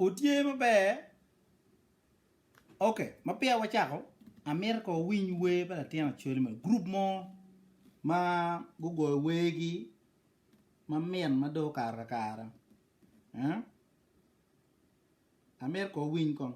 Otye maber ok ma peya wacako amito ko winy wer pa latin Acholi moni group mo ma gugoyo wer gi ma mit ma dong okato kakare eh amito ko winy kong.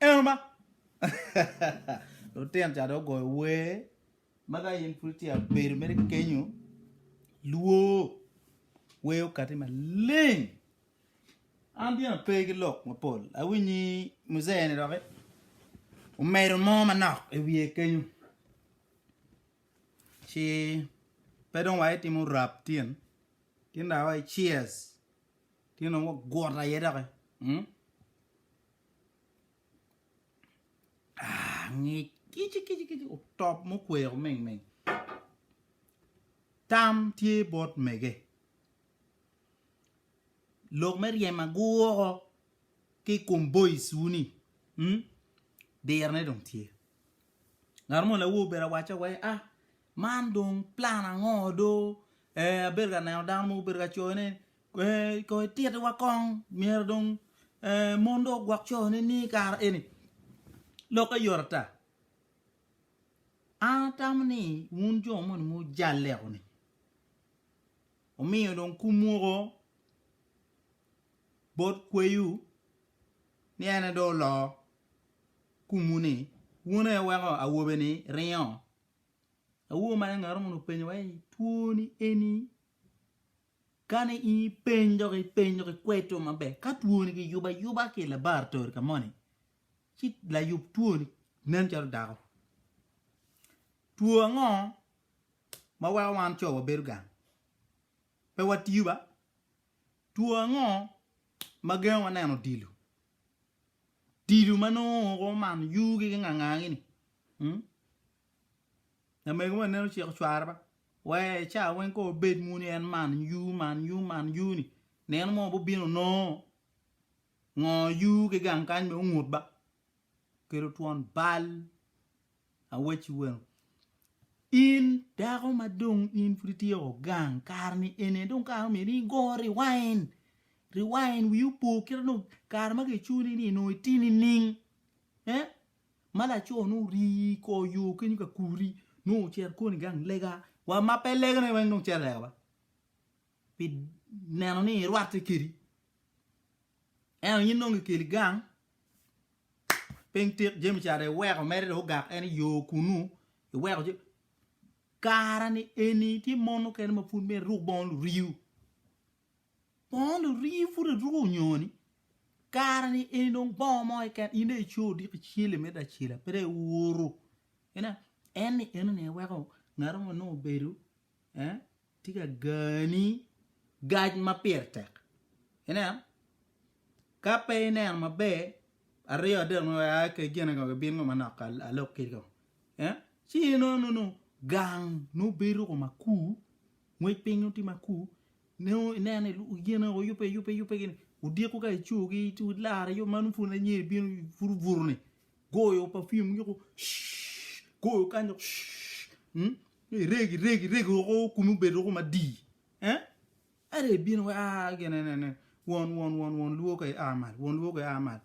Eno ma. Lutino ca dong ogoyo wer ma ka in pud tye abedo mere kenyo lwor wer okati maleng. An dyena pe ki lok mapol awinyi muzee ni doki omedo mo manok i wiye kenyo ci pe dong wa itimo rap tyen tyen dong awaci cheers. Tye nongo gwot aye doki. Hmm. Ah, ngic kici kici kici otop mukweko ming ming. Tam tye bot mege. Lok me ryem agwoko ki kom boys wuni. Hmm. Dirne dong tye. Ngat mo lawo obedo awacca wa ni, ah man dong plan ango do, eh abedo ka neno dano mogo obedo ka coyo ni eh kong ititi wa kong myero dong eh mon dong ogwok coyo ne ni kare eni, lokke yot ata. An atamo ni wun jo moni ma wujalle kuni wumiyo dong kum mogo bot kweyiwu ni en aye dong oloo kumwu ni, Wun aye weko awobe-ni ringo? Awobi man engato mono openyo wa ni, Twoni eni kani in ipeny dok ipeny dok ikweto maber, ka twoni kiyubo ayuba ki i labaratori ka moni, ci layub twoni nen calo dako. Two ango ma weko wan co wabedo gang? Pe watiyo ba? Two ango ma gengo wa neno odilo? Tilo ma nongo oko omano yugi ki ngangangi ni mm lamego moni nen ociko cware ba wee cawa weng kong obed mono ni en man yuu man yuu man yuu ni neno mo bo bino nongo ngo yuu ki gang kany bene ongut ba kelo twon bal. Awacci weng, in dako ma dong in pud ityeko gang, kare-ni eni dong kare omyero ni igo riwain, riwain wiyi opo kite dong kare ma kicuni ni onongo iti nining? Ma laco ni ori i kor yo kenyo ka kuri nongo ocito koni gang lega, wa ma pe legane weng dong cito lega ba. pi neno ni irwatte kedi, ento in nongo ikeli gang piny tik jami ca dong iweko mere dong ogak en i yo kunu iweko jami kara ni eni tye mon mukene ma pud myero iruk bongo luriu, bongo luriu pud iruko nyoni kara ni eni dong bongo mo keken in dong ico odiko icele me lacela pe dong iuru ineno en ni enoni aye weko ngato ma nongo obedo tye ka gani gac ma pire tek ineno ka pe ineno maber aryo adek ma wai aa kegen ngo gibino ngo manok alog ki ngo ci inongo nongo gang nongo bedo ko makur ngwec piny nongo tye makur Nongo ineno ni yen aye oyubbe ayubba yubbe gini odiko ka ico gi ci ilare yo man pun anyeri bino pud obuto ni goyo perfume yuko shhh, goyo kanyo shhh, mm, iregi iregi iregi woko kumi obedo woko madii eh ere ibino wa ah gin ene ene won won won won luo ka ia malo won luo ka ia malo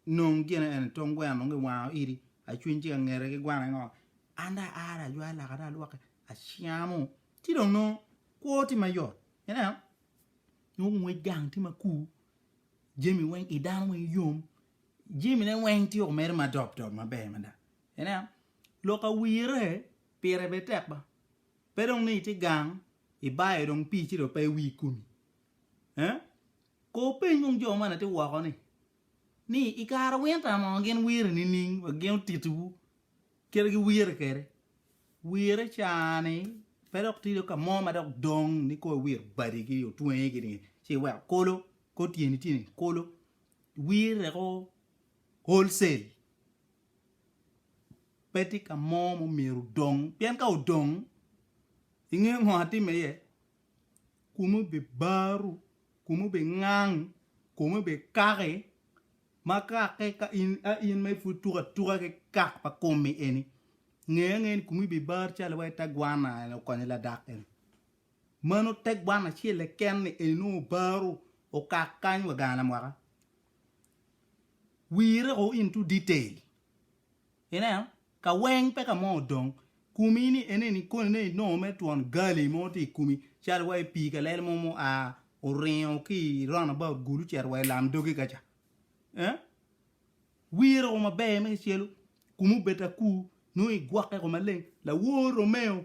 nong gin ene tong gweno nongo iwango idi acwiny ci ka ngete ki gwana ngo an dong aare ajwayo laka dong alwoke acamo ci dong nongo Kwo tye ma yot. Ineno? Nongo ngwec gang tye ma kur. Jami weng i dano weng yom. Jamine weng tye omere ma dop dop maber mada. Ineno? Lok awire pire bene tek ba. Pe dong ni itye gang, ibayo dong pii ci dong pe iwir komi. Eh? Ko peny kong jo man atye woko-ni, ni i kare winta mo gin wiri nining wa gin otitiwu Kite gi wire kede. Wire cani pe dok tye dok kamo ma dok dong ni kor wir badi gi otwengi gi ni ci weko kolo kor tyeni tye ni kolo wir reko wholesale pe tye kamo ma myero odong pien ka odong ingeyo ngo atime iye kome bibaru, kome bingang, kome bikaki ma kakke ka in a in ma ipud tuko atuka ki kak pa komi eni nge angeya ni komi bibar calo wai te gwana eni okonyo ladak eni mano te gwana acel keken ni eni nongo obaru okak kany wa ganga mwaka wire o into detail. Ineno, ka weng pe ka mo odong kumi ni eneni koni ne inongo mere twon gali mo tye i kumi calo wa i pii kalele mo mu a oringo ki i round about gulu cito wa i lam dogi ka ca. Eh? Wire o maber me kicelu, kumi obed akur, nongo igwokke ko maleng. Lawor Romeo,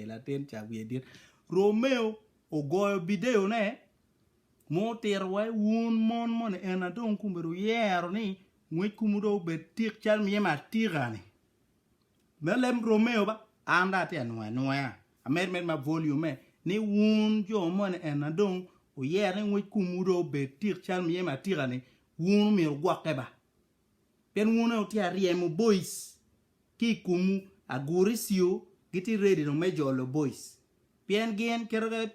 latin ca wiye dit. Romeo ogoyo bideo ne ma otito wa wun mon moni en na dong kun bedo wuyero ni ngwec kumu dong obed tik cal myemo atika ni me lem romeo ba an dong atye anwoyo anwoya amed med ma volume ni wun jo moni en na dong wuyero ni ngwec kumu dong obed tik cal myemo atika ni wun omyero gwokke ba Pien wun aye wutye aryemo boic ki i komwu, aguricio gitye ready dong me jolo boic. Pien gin kit ma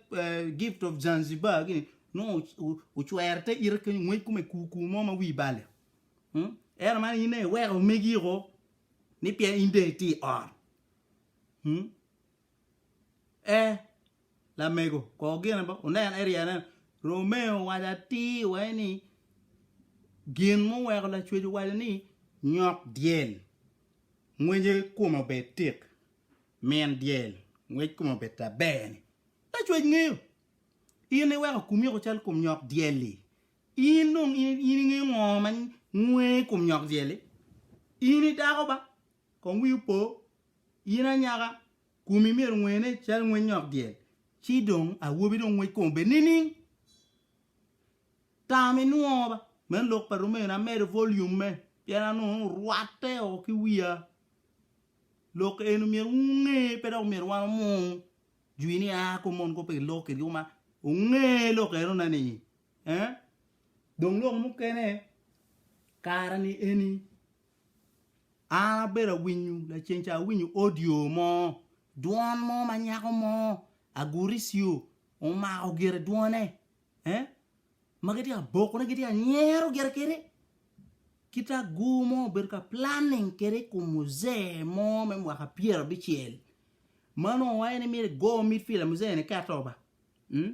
gift of Zanzibar gini nongo ocwero te ite kenyo ngwec kome kur kur mo ma wi bale. Ento man in aye iweko omegi oko ni pien in dong itye i ot. Ee, lamego, kor gine ba, wunen, Eddie aneno. Romeo owaco atir wai ni, Gin muweko lacwec owaco ni, Nyok dyel, ngwece kome obed tik, min dyel, ngwec kome obed taber-ni. Lacwec ngeyo. In iweko komi oko calo kom nyok dyel-li. In dong in ingeyo ngo ma ngwe i kom nyok dyel-li? In idako ba? Kong wi opo, in anyaka, komi myero ngwene calo ngwec nyok dyel, ci dong awobi dong ngwec kome bed nining? Tam inwongo ba. Me lok pa Rumena amedo volume-me pien anongo ni orwatte o ki wiya. Lok eni myero wunge pe dok myero wan omung jwi ni a kom mon kop pe kiloko kitgi koma. Wunge lok enona ni eh. Dong lok mukene kare-ni eni. An abedo awinyo laceng ca awinyo audio mo dwon mo ma nyako mo aguricio omako gire dwone eh ma gitye ka bokone gitye ka nyero gire kede kit agur mo obedo ka planning kede i kom muzee mo me mwaka pyera abicel ma nongo en myero egoyo mit pi lamuzee-ni ka ato ba mm?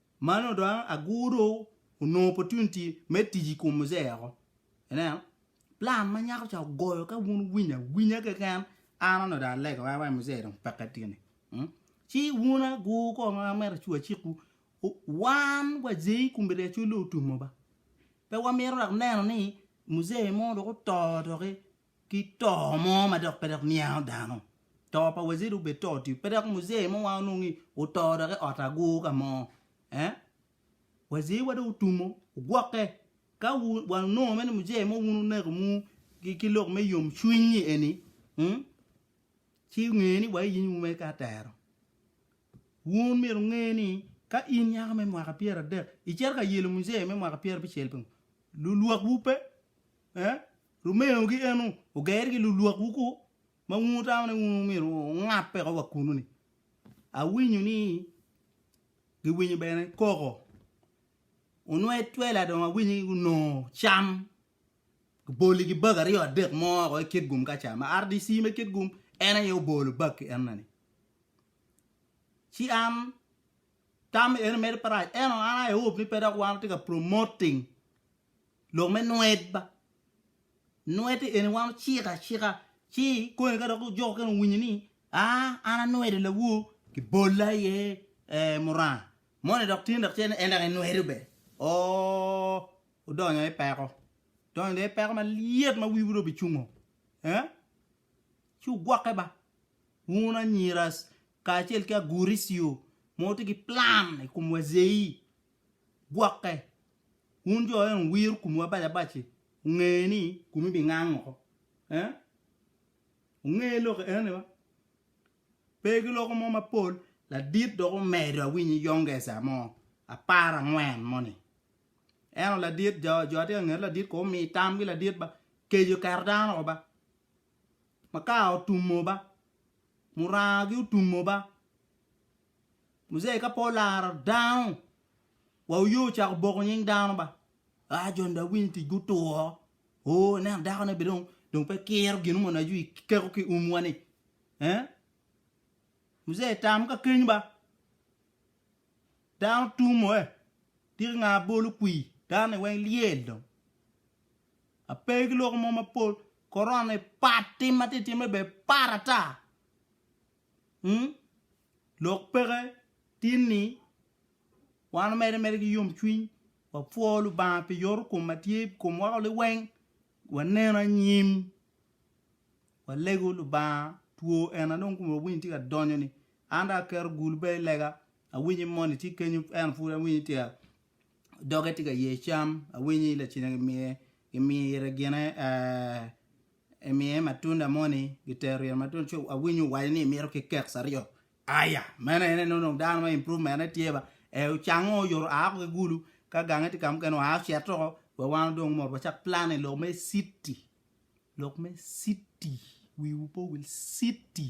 Man odong agur do onongo opportunity me tic i kom muzee oko. Ineno? Plan ma nyako ca ogoyo ka wun wuwinyo awinya keken an onongo dong alego en wai muzee dong peke tye ni. Hmm? Ci wun agur ko ma amito acu acikwu u- wan wazee i komiti acol dong otumo ba. Pe wamito dok neno ni muzee mo dok oto doki ki to mo ma dok pe dok niango dano, to pa waziri obed to otiyo pe dok muzee mo wa onongo ni oto dok i ot agur ka mo eh waziri wa dong otumo ogwoke ka wa onongo mere ni muzee mo wun oneko mu ki lok me yom cwiny ni eni mm ci onge ni wa iyenyo wu mere ka tero wun myero onge ni ka in nyako me mwaka pyera adek icito ka yelo muzee me mwaka pyera abicel pingo lulwak wu pe eh Rumeo gi eno oger gi lulwak wu ku ma wun wutamo ni wun myero wungape ko wa kunu ni. Awinyo ni gi winyo bene koko onwe twela dong awinyo ni gunongo cam gi boli gi bag aryo adek mo ko ikit gum ka ca ma RDC me kit gum en aye obolo bag ki ena ni. Ci an tam eno medo parac eno an I hope ni pe dok wan watye ka promoting. Lok me nwedba. Nwedde eni wan ociko acika ci koni ka dok ojoko kene owinyo ni aa an anwedo lawor kibolla iye ee muranga moni dok tini dok cene en dok enwedo bene oo odonyo i peko donyo dong i peko malyet ma wiwu dong obicungo ee ci wugwokke ba wun anyira kacel ki aguricio ma wutye ki plan i kom wazei gwokke. Wun jo eno wuwiro komu abac abac-ci, wunge ni komu bingang oko. Eh? Wunge lok eno ni ba? Pe giloko mo mapol, ladit dok omedo awinyi yongesa mo apar angwen moni. Eno ladit jo jo atye ka ngeto ladit ko omi tamgi ladit ba keco keto dano oko ba. Makar otumo ba. Muranga gi otumo ba. Muzei ka pe olaro dano wa oye ocako boko nying dano ba aa jon da winy tic gutur oo ineno dako ne bene dong pe kiro gin mono aco ikeko ki um wa ni eh Muzei tam ka keny ba dano tum oe tiki nga bolo kwi dano ni weng lyel dong ape ki lok mo mapol korona ni pat tim ma tye timme bene pat ata. Ung, lok peke tin ni wan omedde mere ki yomcwiny, wapwo Lubanga pi yorokom ma tye i kom wako liweng, waneno anyim, walego Lubanga two en a dong komwa winy tye ka donyo-ni. An dong aketo gul bene i lega, awinyo i moni tye kenyo ento pud awinyo ni tye doge tye ka ye cam, awinyo ni lacine gimiye gimire gine ee. Emiye matunda moni gitero ryeno matunda ci awinyo owaco ni imito ki keks aryo aya meno ene ni onongo dano ma improvement ne tye ba e ocango oyoro aa ko ki gulu ka gange tye ka mukene oa ocito ko wek wan odong omot wacak plan i lok me city lok me city wiwu pe owil city